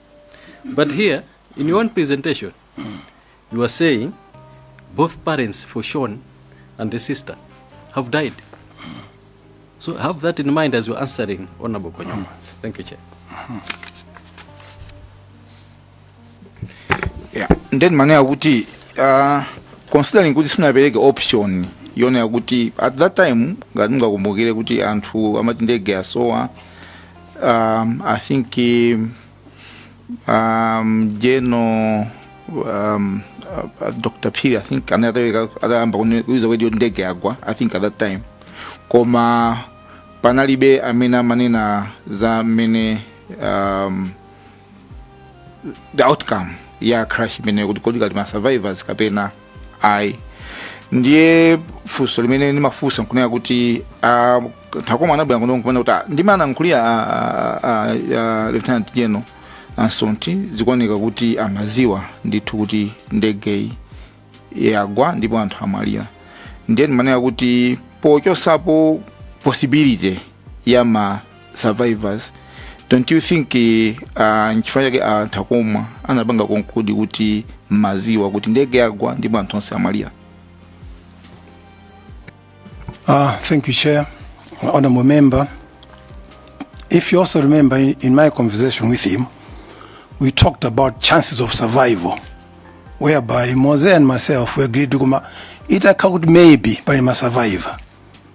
But here, in your own presentation, you are saying both parents for Sean and the sister have died. So have that in mind as you're answering Honorable Konyama. Thank you, Chair. yeah. ndeni mane akuti uh, considering kuti simunapereke option yonena kuti at that time ngati mungakumbukire kuti anthu amati ndege yasowa Um, I think um, um, General um, uh, uh, Dr. Phiri, I think anatha ena atayamba kuziwa already yoti ndege yagwa, I think at that time. Koma panalibe amene amanena za mmene um, the outcome ya crash imeneyo kuti kodi kuli ma survivors kapena ayi ndiye funso limene ndimafunsa nkunena kuti ah, a Thako mmene anabwera kuno nkunena kuti ah, ndi mmene anankhulira ah, ah, ah, ah, lieutenant general ansonti zikuoneka kuti amaziwa ndithu kuti ndegeyi yagwa ndipo anthu amwalira ndiye ndimanena kuti pochotsapo possibility ya ma survivors don't you think uh, nchifukwa chake anthu akumwa anapanga conclude kuti maziwa kuti ndege yagwa ndipo anthu onse amwalira Ah, thank you, Chair. Honorable Member, if you also remember in, in my conversation with him, we talked about chances of survival, whereby Mose and myself we agreed to come, it occurred maybe, but he must survive.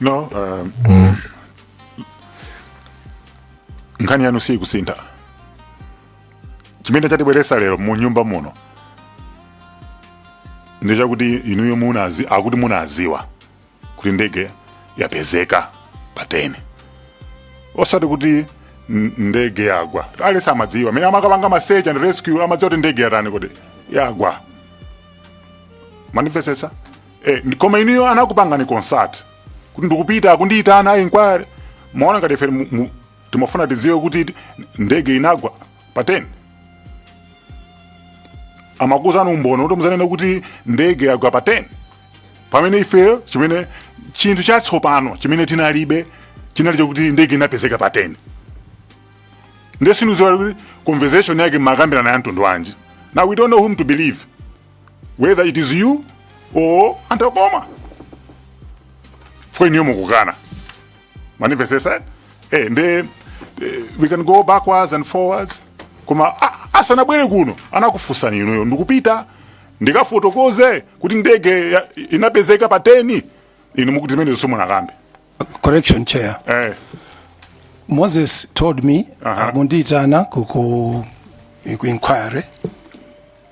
no um, mm. nkhani yanu siyikusintha chimene chatibweresa lero mu nyumba muno ndi chakuti inuyo munazi akuti munaziwa kuti ndege yapezeka pa 10 osati kuti n- ndege yagwa aliyense amadziwa amene amakapanga ma search and rescue amadziwa kuti ndege yatani kodi yagwa mwandimvesesa Eh, ndi- koma inuyo anakupangani consult kuti ndikupita kundiyitana ayi inquiry maona ngati ife mu- mu- timafuna tidziwe kuti ti- ndege inagwa pa 10 amakuuzani umboni kuti muzanene kuti ndege yagwa pa 10 pamene ifeyo chimene chinthu chatsopano chimene tinalibe chinali chokuti ndege inapezeka pa 10 nde sitikudziwa kuti conversation yake mmakambirana ya mtundu wanji now we don't know whom to believe whether it is you or anthu akumafoni inuyo mukukana mandimvetsetsa eh, nde eh, we can go backwards and forwards koma ah, asanabwere kuno anakufunsani inuyo ndikupita ndikafotokoze kuti ndege ya- inapezeka pa 10 inu mukuti zimenezo simunakambe correction chair eh, moses told me Aha. akundiyitana ku ku ku inquiry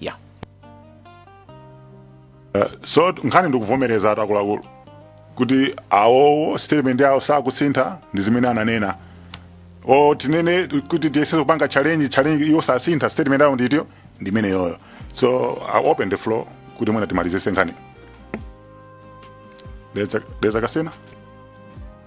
ya Eh, so nkhani ndikuvomereza ati akuluakulu kuti awowo statement yawo sakusintha ndi zimene ananena o tinene kuti tiyese kupanga challenge iwo sasintha statement yawo ndi choncho ndi imeneyoyo so i open the floor kuti mwina timalizese nkhani leza kasena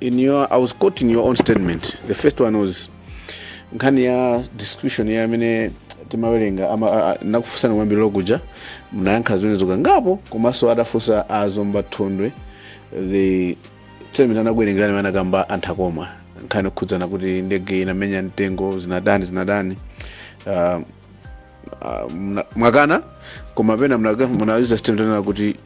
in your i was caught in your own statement the first one was nkhani ya description ya amene timawerenga ana- a- a- nakufunsani kwambiri loya uja mnayankha zimenezo kangapo komanso adafunsa a Zomba Thondwe the statement anakuwerengerani amene anakamba anthu akoma nkhani okhudzana kuti ndege inamenya mtengo zinatani zinatani uh, uh, mna- mwakana koma pena mnauza statement anena kuti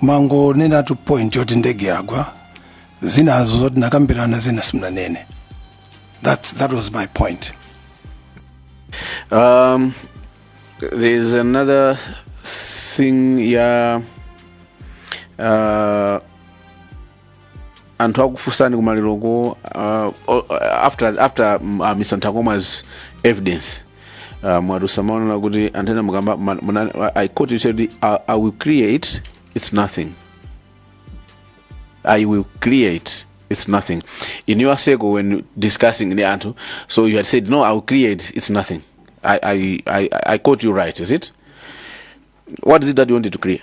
mwangonenatu point yoti ndege yagwa zinazo zoti mnakambirana zina simunanene That's, that was my point Um, there's another thing ya uh, anthu akufunsani kumaliroko uh, o- after, after mm, uh, mr ntakoma's evidence uh, mwadusa maonera kuti anthu ena mukamba ma- muna- i quote you said I, i will create it's nothing i will create it's nothing in your circle when discussing ndi anthu so you had said no i will create it's nothing i, I, I, I quote you right is it what is it that you wanted to create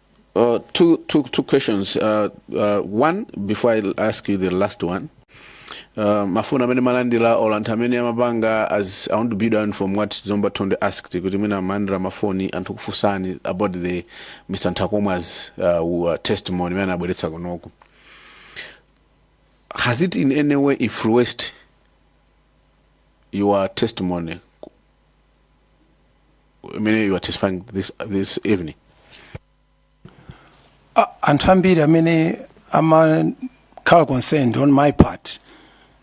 Uh, two, two, two questions. Uh, uh, one, before I ask you the last one. Uh, mafoni amene malandira or anthu amene amapanga as i want to build on from what zomba thondwe asked kuti mwina malandira mafoni anthu kufunsani about the mr nthakomwa's uh, uh, testimony imene anabweretsa kunoku has it in any way influenced your testimony imene you are testifying this, this evening A- anthu ambiri amene amakhala concerned on my part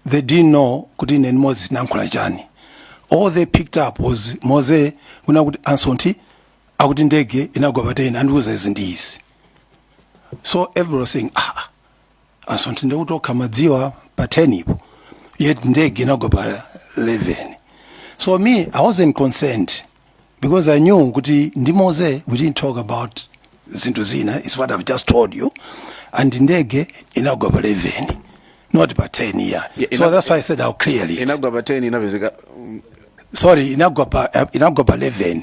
they didn't know kuti ine ndi moses tinalankhula chani all they picked up was moses kunena kuti a Msonthi akuti ndege inagwa pa 10 andiuza izi ndi izi so everybody was saying ah ah, so ndiye kuti okha amadziwa pa 10 ipo yet ndege inagwa pa 11 so me i wasn't concerned because i knew kuti ndi Moses we didn't talk about zinthu zina is what i've just told you and ndege inagwa pa 11 not pa 10 here Yeah, so inag- that's why i said i'll clear it inagwa pa 10 inapezeka mm, sorry inagwa pa uh, inagwa pa 11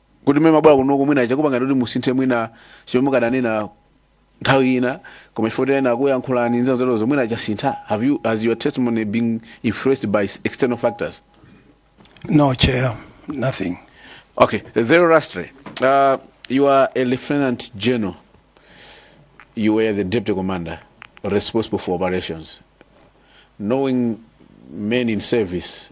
kuti mmene mumabwera kunoko mwina chakupangani kuti musinthe mwina chomwe mukadanena nthawi ina koma chifukwa kuti ena akuyankhulani nzeru zawozo mwina chasintha have you has your testimony been influenced by external factors No, Chair, nothing. Okay, Zero Rastre, uh, you are a lieutenant general. You were the deputy commander responsible for operations. Knowing men in service,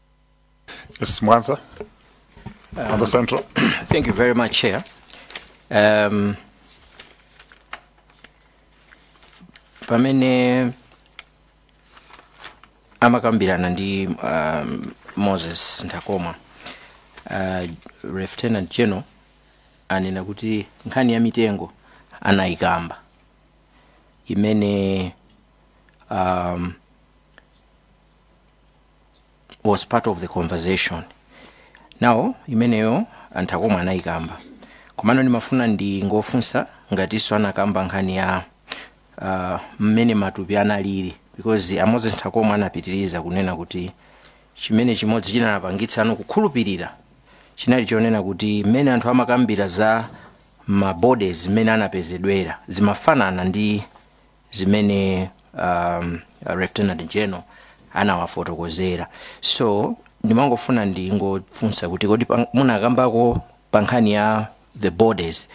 Yes, Mwanza. Um, the central. Thank you very much, Chair. Um, pamene amakambirana ndi um, Moses Nthakomwa uh, lieutenant general anena kuti nkhani ya mitengo anayikamba imene um, was part of the conversation nawo imeneyo a Nthakomwa anayikamba komano ndimafuna ndingofunsa ngatinso anakamba nkhani ya ah, mmene matupi analili because a Moses Nthakomwa anapitiriza kunena kuti chimene chimodzi chinawapangitsa iwo kukhulupirira chinali chonena kuti mmene anthu amakambira za mabodies mmene anapezedwera zimafanana ndi zimene um, lieutenant general anawafotokozera so ndimangofuna ndingofunsa kuti kodi pang- munakambako pa nkhani ya the bodies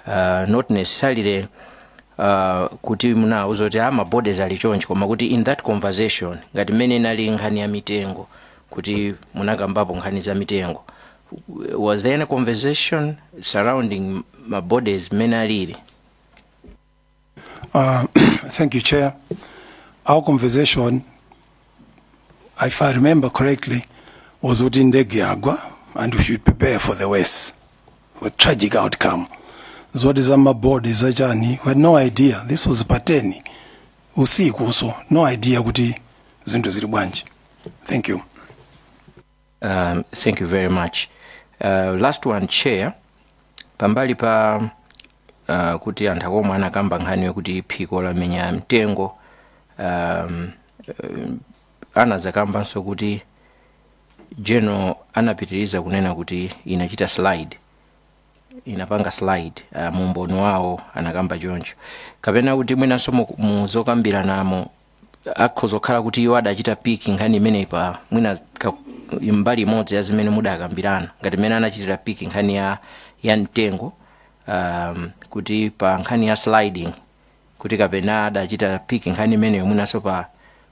uh, not necessarily uh, kuti munauza kuti ah, ma bodies ali chonchi koma kuti in that conversation ngati mmene inali nkhani ya mitengo kuti munakambapo nkhani za mitengo was there any conversation surrounding ma bodies mmene alili Uh, thank you, Chair. Our conversation, if I remember correctly, was kuti ndege yagwa and we should prepare for the worst, for tragic outcome. Zoti za mabodi za chani, we had no idea. This was pateni usiku, so no idea kuti zinthu zili bwanji. Thank you. Um, thank you very much. Uh, last one chair pambali pa uh, kuti a Nthakomwa anakamba nkhani yokuti phiko lamenya mtengo um, um, anadzakambanso kuti general anapitiriza kunena kuti inachita slide inapanga slide uh, mumboni wawo anakamba choncho kapena kuti mwinanso mu- muzokambiranamo akhoza kukhala kuti iwo adachita pick nkhani imeneyi pa mwina ka- mbali imodzi ya zimene mudakambirana ngati mmene anachitira pick nkhani ya, ya mtengo um, kuti pa nkhani ya sliding kuti kapena adachita pick nkhani imeneyo mwinanso pa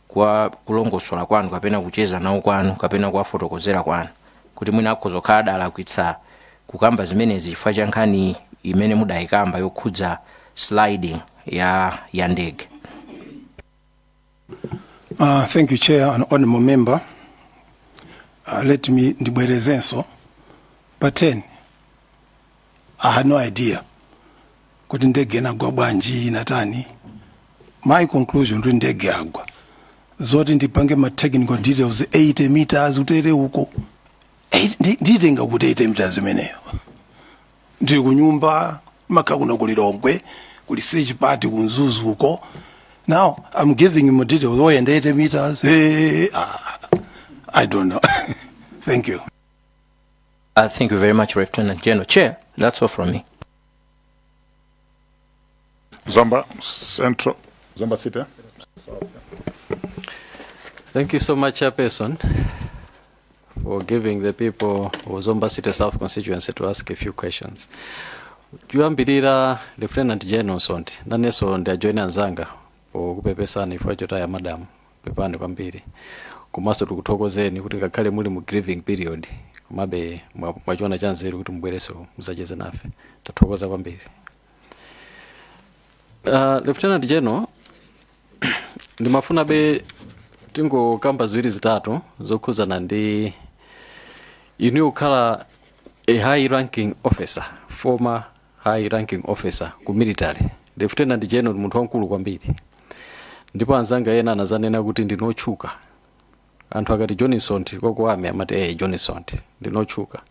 kwa kulongosola kwanu kapena kucheza nawo kwanu kapena kuwafotokozera kwanu kuti mwina akhoza kukhala adalakwitsa kukamba zimenezi chifukwa cha nkhani imene mudayikamba yokhudza sliding ya, ya ndege Uh, thank you, Chair and Honorable Member. Uh, let me ndibwerezenso pa 10 I had no idea kuti ndege inagwa bwanji inatani my conclusion kuti ndege yagwa zoti ndipange ma technical details 80 meters utere uko Eight- ndi- nditenga kuti 80 meters imeneyo ndili ku nyumba makhala kuno ku lilongwe kuli search party ku mzuzu uko now i'm giving him details oyenda 80 meters hey, ah, i don't know thank you Uh, thank you very much, Lieutenant General. Chair, that's all from me. Zomba Central, Zomba City. eh? Thank you so much, Chairperson, for giving the people of Zomba City South constituency to ask a few questions. Kuyambirira Lieutenant General Sonti, nanenso ndiwajoyine anzanga pokupepesani chifukwa chotaya madam pepani kwambiri komanso tikuthokozeni kuti ngakhale muli mu grieving period komabe mwa- mwachiona chanzeru kuti mubwerenso muzacheze nafe tathokoza kwambiri Uh, Lieutenant General ndimafunabe tingokamba ziwiri zitatu zokhudzana ndi inu kukhala a high ranking officer former high ranking officer ku military Lieutenant General ndi munthu wamkulu kwambiri ndipo anzanga ena anazanena kuti ndinu otchuka anthu akati johnsont kwathu amene amati ee johnsont ndinotchuka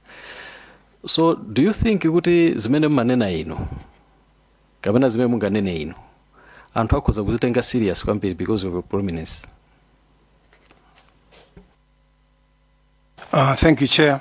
so do you think kuti zimene mmanena inu kapena zimene munganene inu anthu akhoza kuzitenga serious kwambiri because of your prominence Uh, thank you, Chair.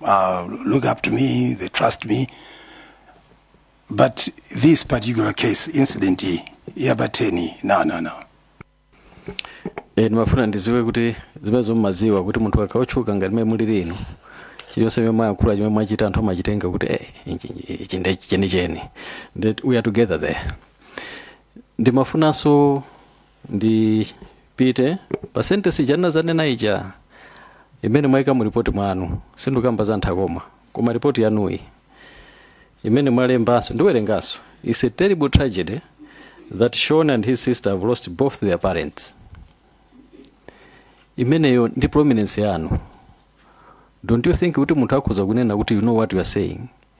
uh, look up to me, they trust me. But this particular case, incident iyi, yabateni, no, no, no. e, ndimafuna ndiziwe kuti zimene mumaziwa kuti munthu akakhala otchuka ngati mmene mulili inu chilichonse chimene mwayankhula chimene mwachita anthu amachitenga kuti eh, ichi- ichi- ichi ndi chenicheni that we are together there ndimafunanso ndipite pa sentence ija ndinazanena ija imene mwaika mu ripoti mwanu sindikamba za nthano koma ripoti yanuyi imene mwalembanso ndiwerenganso is a terrible tragedy that Sean and his sister have lost both their parents imeneyo ndi prominence yanu don't you think kuti munthu akhoza kunena kuti you know what you are saying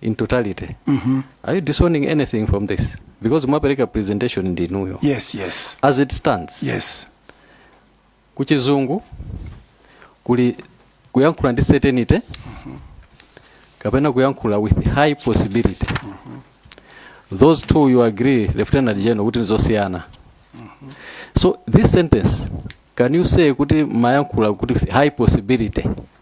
in totality are you disowning anything from this because mwapereka presentation ndi inuyo yes yes as it stands yes kuchizungu kuli kuyankhula ndi certainty kapena kuyankhula with high possibility those two you agree lieutenant general kuti ndi zosiyana so this sentence can you say kuti mumayankhula kuti with high possibility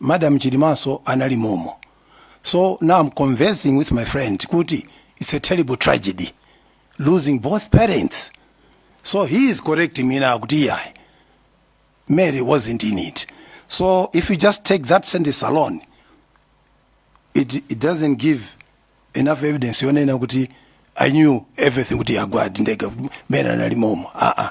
madam chilimanso anali momo so now i'm conversing with my friend kuti it's a terrible tragedy losing both parents so he is correcting me now kuti iyayi mary wasn't in it so if you just take that sentence alone it, it doesn't give enough evidence yonena kuti i knew everything kuti yagwadi ndege mary anali momo aa uh -uh.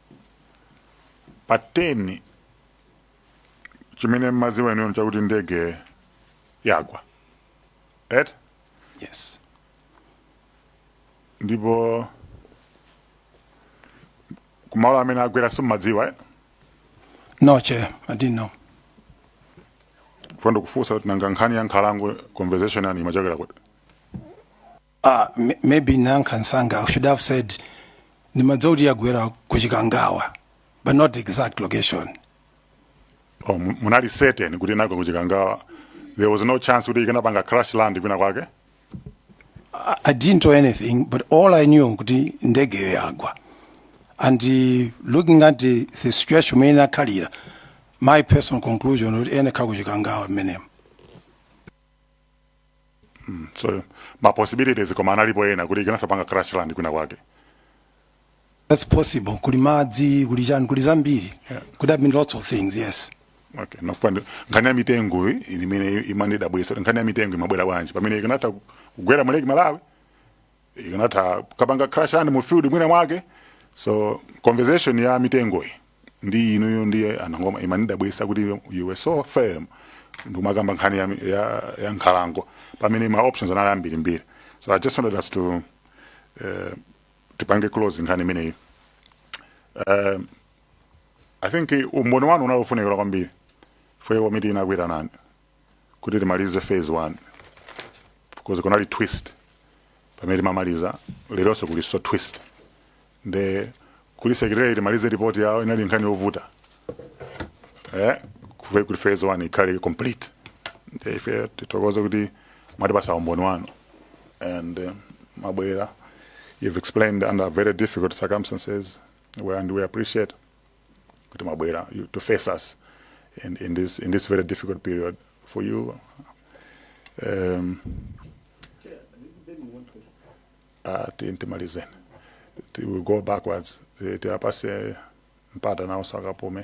pa 10 chimene mmadziwa inuyo chakuti ndege yagwa eti yes ndipo kumalo amene yagwera simmadziwa eh? no chair i didn't know ndimafuna ndikufunseni kuti nanga nkhani ya nkhalango conversation yake imachokera kuti Ah, m- maybe nanga mwinanso I should have said ndimadziwa kuti yagwera ku Chikangawa, but not the exact location. oh, mu- munali certain kuti inagwa kuchikangawa there was no chance kuti ikanapanga crash land kwina kwake I, I didn't know anything, but all I knew kuti ndege yagwa. And uh, looking at the, the situation mene inakhalira, my personal conclusion kuti inagwa kuchikangawa mmenemo. mm, so ma possibilities koma analipo ena kuti ikanatha panga crash land kwina kwake that's possible kuli madzi kuli chani kuli zambiri Yeah. could have been lots of things yes okay ndafuna ndi- nkhani ya mitengo iyi imene imandidabwitsa kuti nkhani ya mitengo imabwera bwanji pamene ikanatha kugwera mu lake malawi ikanatha kukapanga crash land mu field mwina mwake so conversation ya mitengoyi ndi inuyo ndiye anangoma imandidabwitsa kuti you were so firm ndikumakamba nkhani ya, ya, ya nkhalango pamene ma options anali ambirimbiri so i just wanted us to uh, tipange close nkhani imeneyi uh, i think umboni wanu unali wofunikira kwambiri ife komiti inagwirizana kuti timalize phase 1 because kunali twist pamene timamaliza leronso kulinso twist nde kuti secretariat imalize report yawo inali nkhani yovuta eh kuti phase 1 ikhale complete nde ife tithokoze kuti mwatipatsa umboni wanu and uh, mwabwera you've explained under very difficult circumstances well, and we appreciate kuti mwabwera you- to face us in, in, this, in this very difficult period for you um, uh, ti- timalizeni Ti- we go backwards Ti- tiwapase mpata nawo sakapume